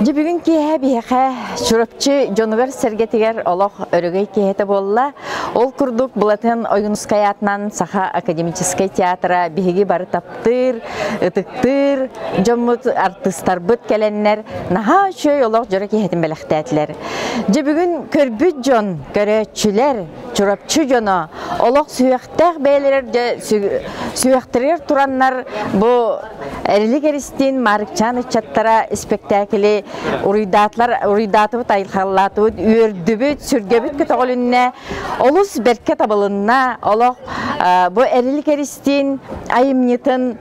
Дьэ бүгүн киэһэ биһиэхэ Чурапчы дьонугар-сэргэтигэр олох өрөгөй киэһэтэ буолла. Ол курдук Былатын Ойуунускай аатынан Саха академическай театра биһиги бары таптыыр, ытыктыыр дьоммут, артыыстарбыт кэлэннэр наһаа үчүгэй олох дьоро киэһэтин бэлэхтээтилэр. Дьэ бүгүн көрбүт дьон, көрөөччүлэр Чурапчы дьоно олох сүһүөхтээх бэйэлэрэр сүһүөхтэригэр тураннар бу Эрилик Эристин, Марыкчаан ыччаттара испэктээкили уруйдаатыбыт, айылхаллаатыбыт, үөрдүбүт, сүргэбит көтөҕүлүннэ, олус бэркэ табылынна. Олох бу Эрилик Эристин айымньытын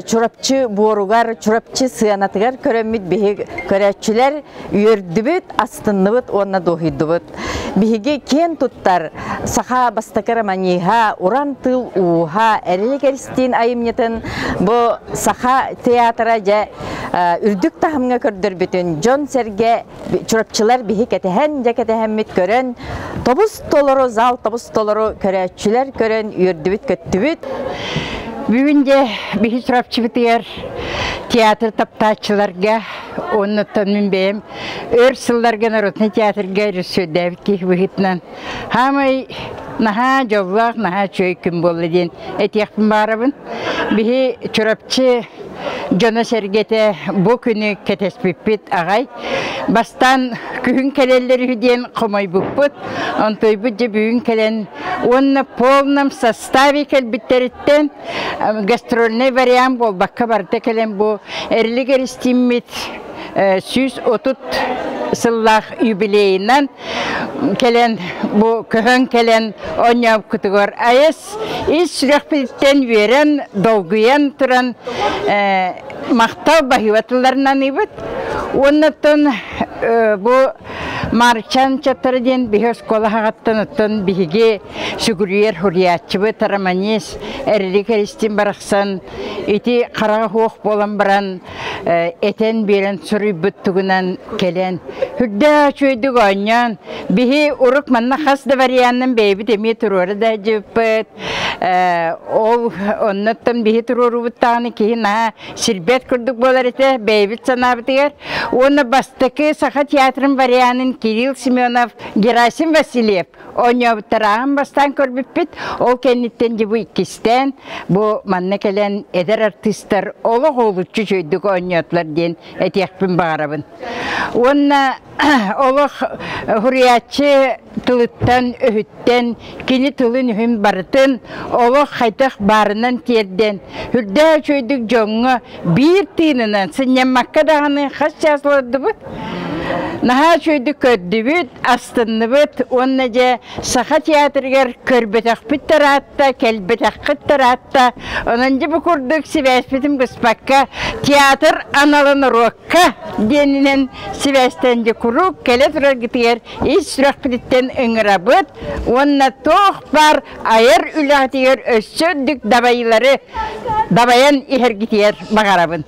Чурапчы буоругар, Чурапчы сыанатыгар көрөммүт биһи көрөөччүлэр үөрдүбүт, астынныбыт уонна дуоһуйдубут. Биһиги киэн туттар саха бастакы романиһа, уран тыл ууһа Эрилик Эристиин айымньытын бу саха театра дьэ үрдүк таһымҥа көрдөрбүтүн дьон-сэргэ чурапчылар биһи кэтэһэн дьэ кэтэһэммит көрөн тобус толору зал тобус толору көрөөччүлэр көрөн үөрдүбүт-көттүбүт бүгүн дьэ биһи Чурапчыбытыгар театр таптааччыларга Оннуттан мин бэйэм өр сылларга народный театрга рөссүөрдээбит киһи быһыытынан хаамай наһаа дьоллоох, наһаа үчүгэй күн буолла диэн этиэхпин баарабын. Биһи Чурапчы дьоно-сэргэтэ бу күнү кэтэспиппит аҕай. Бастаан күһүн кэлэллэр үһү диэн хомойбуппут. Онтуйбут дьэ бүгүн кэлэн уонна полном Стави кэлбиттэриттэн гастрольный вариант буолбакка барда кэлэн бу эрлигер истиммит сүүс отут сыллаах юбилейынан кэлэн бу көһөн кэлэн онньообкутугар айыс ис сүрэхпититтэн үөрэн долгуйан туран махтал баһыыбатылларынан ибит уоннаттан бу Марчан Чаттар диэн биһи оскуола хаҕаттан оттон биһиги сүгүрүйэр хурияччыбы тараманис эрили кэристин барахсан ити хараҕа хуох буолан баран этэн биэрэн суруйбут тугунан кэлэн үрдээ үчүөйдүк оонньоон биһи урук манна хас да варианнын бэйэбит эмиэ туруора да дьыппыт ол оннуттан биһи туруоруубуттаҕына киһи наһаа сирбэт курдук буолар этэ бэйэбит санаабытыгар уонна бастакы саха театрын варианын кирилл семенов герасим васильев Оонньообуттарааҕын бастаан көрбүппүт, ол кэнниттэн дьыбы иккистээн, бу манна кэлэн эдэр артыыстар олох олуччу үчүгэйдик оонньоотулар диэн этиэхпин баҕарабын. Уонна олох суруйааччы тылыттан, өһүттэн, кини тылын-үһүн барытын олох хайдах баарынан тиэрдэн, үрдээх үчүгэйдик дьоҥҥо Биир тыынынан сынньаммакка даҕаны хас чаас олордубут. Наһаа үчүгэйдик көрдүбүт, астынныбыт уонна дьэ Саха театрыгар көрбөтөхпүт тараатта, кэлбэтэххит тараатта. Онон дьэ бу курдук сибээспитин быспакка театр аналын уруокка диэнинэн сибээстэн дьэ куруук кэлэ тураргытыгар ис сүрэхпититтэн ыҥырабыт уонна туох баар айар үлэҕитигэр өссө үрдүк дабайыылары дабайан иһэргитигэр баҕарабын.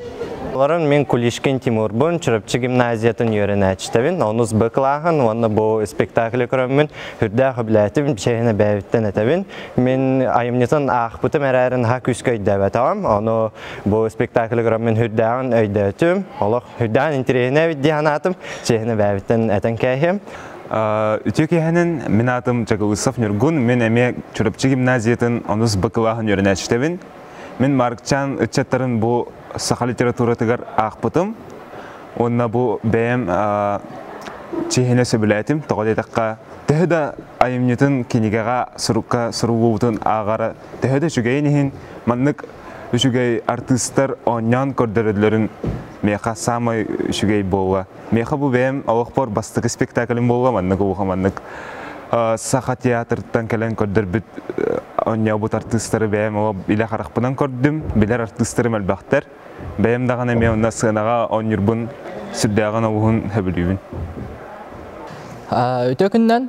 Олорон мин Кулишкин Тимурбун, Чурапчы гимназиятын үөрэнээччитэбин, онус Б клааһын уонна бу спектаклы көрөммүн, үрдээх үбүлээтим, чэһин эбээбиттэн этэбин. Мин айымньытын аахпытым эрээри наһаа күүскэ өйдөөбөтөҕүм, ону бу спектаклы көрөммүн үрдээҕин өйдөөтүм. Олох Үрдэҕин интириэһинэбит дии санаатым, чиэһин эбээбиттэн этэн кээһиэм. Үтүө киэһэнин мин аатым Чакылысов Ньургун, мин эмиэ Чурапчы гимназиятын онус бакылааһын үөрэнээччитэбин. Мин Марыкчаан ыччаттарын бу саха литературатыгар аахпытым уонна бу бэйэм чиэһинэ сөбүлээтим, тоҕо диэтэххэ төһө да айымньытын кинигэҕэ сурукка суруллубутун ааҕара төһө да үчүгэйин иһин маннык үчүгэй артыыстар оонньоон көрдөрөллөрүн миэхэ саамай үчүгэй буолла миэхэ бу бэйэм олохпор бастакы спектаклим буолла маннык улахан маннык саха театрыттан кэлэн көрдөрбүт оонньообут артыыстары бэйэм олох илэ харахпынан көрдүм билэр артыыстарым элбэхтэр бэйэм даҕаны эмиэ онно сыанаҕа оонньуурбун сүрдээҕин обуһун сөбүлүүбүн Өтө күннэн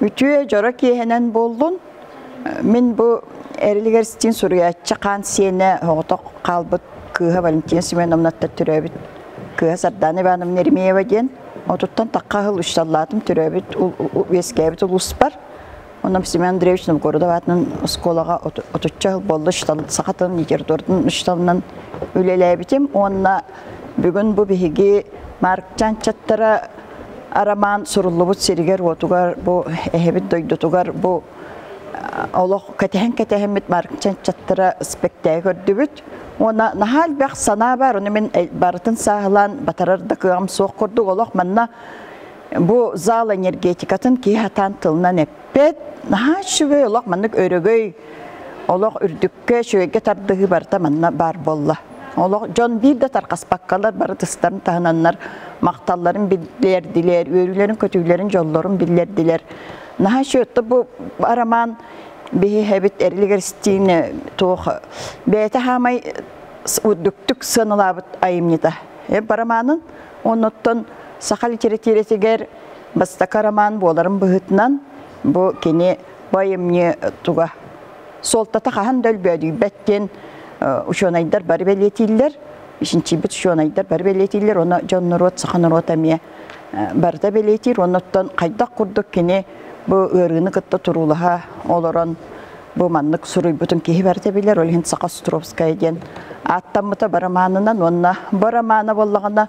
Үтүө дьоро киэһэнэн буоллун. Мин бу эрилигэр ситин суруйааччы хаан сиэнэ хоҕотох хаалбыт кыыһа Валентина Семеновнаттан төрөөбүт кыыһа Сардаана Ивановна Еремеева диэн отуттан такка аһыл үссаллаатым төрөөбүт үөскээбит улууспар Онам Семен Андреевич Новгородов аатынан оскуолаҕа отучча сыл буолла саха тылын литературатын учууталынан үлэлээбитим уонна бүгүн бу биһиги Марк Чанчаттара Арамаан суруллубут сиригэр-уотугар, бу эһэбит дойдутугар бу олох кэтэһэн-кэтэһэммит чаттара спектаи көрдүбүт. Уона наһаа элбэх санаа бар, оны мин барытын сааһылаан батарар да кыаҕым суох курдук. Олох манна бу зал энергетикатын киһи хатаан тылынан эп Бэт наһаа үчүгэй олох маннык өрөгөй олох үрдүккэ, үчүгэйгэ тардыһыы барыта манна баар буолла. Олох дьон биир да тархаспаккалар бары тыстарын таһынаннар махталларын биллэрдилэр, үөрүүлэрин көтүүлэрин дьоллорун биллэрдилэр. Наһаа үчүөттэ бу арамаан биһиһэбит эрлигер стине туох бэйэтэ хаамай үрдүктүк сыаналаабыт айымньыта. Барамаанын оннуттан саха литератиратигар бастакы роман буоларым быһытынан бу кини байымньы туга суолтата хаһан да өлбөөдүйбэттин учуонайдар бары бэлиэтииллэр ичинчийбит учуонайдар бары бэлиэтииллэр уонна дьон норуот саха норуот эмиэ барыта бэлиэтиир оннуттан хайдах курдук кини бу ыарыыны кытта туруулаһа олорон бу маннык суруйбутун киһи барыта билэр ол иһин саха островская диэн ааттаммыта барамаанынан уонна бу романа буоллаҕына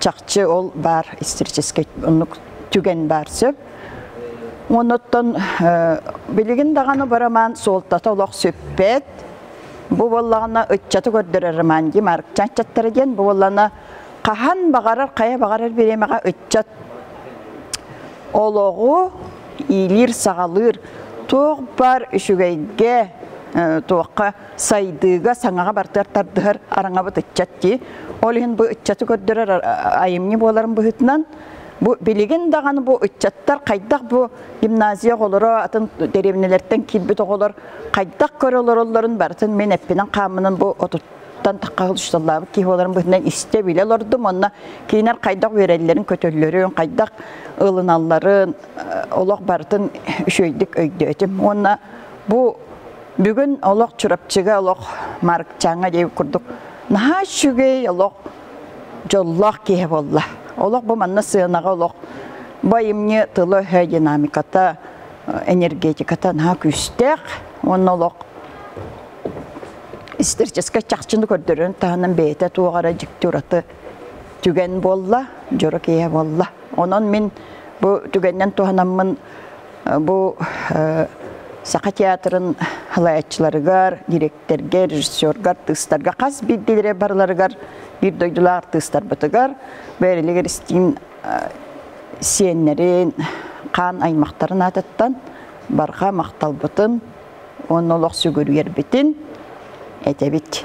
чахчы ол баар историческай оннук түгэн баар сөп. Онуттан билигин даҕаны барамаан суолтата олох сүппэт. Бу боллаҕына ыччаты көрдөрөр роман Марк Чанчаттара диэн бу боллана хаһан баҕарар хайа баҕарар бириэмэҕэ ыччат олоҕу иилиир саҕалыыр туох баар үчүгэйгэ туохха сайдыыга саҥаҕа бартыгар тардыһар араҥабыт ыччат дии. Ол иһин бу ыччаты көрдөрөр айымньы буоларын быһытынан бу билигин даҕаны бу ыччаттар хайдах бу гимназия оҕолоро атын деревнялэртэн киирбит оҕолор хайдах көрө олороллорун барытын мен эппинен хааммынан бу отуттан тахха учутталлаабыт киһи боларын быһытынан истэ биле олордум онно киинер хайдах үөрэллэрин көтөллөрүн хайдах ылыналларын олох барытын үчүөйдүк өйдөөтүм уонна бу Бүгүн олох Чурапчыга олох Маркчаҥа диye курдук наһаа үчүгэй олох дьоллоох киһи болла. Олох бу манна сыанаҕа олох бу айымньы тылы-өһө динамиката, энергетиката наһаа күүстээх. Уонна олох историческай чахчыны көрдөрөн таһынан бэйэтэ туоҕара дьикти ураты түгэн буолла, дьоро киһи буолла. Онон мин бу түгэннэн туһанаммын Бу Саха театрын халааччыларыгар, директорга, режиссерга, артыыстарга хас биирдиилэрэ барыларыгар биир дойдулаах артыыстарбытыгар бээрилигэр истиин сиэннэрин, хаан аймахтарын аатыттан барҕа махталбытын уонна олох сүгүрүйэрбитин этэбит.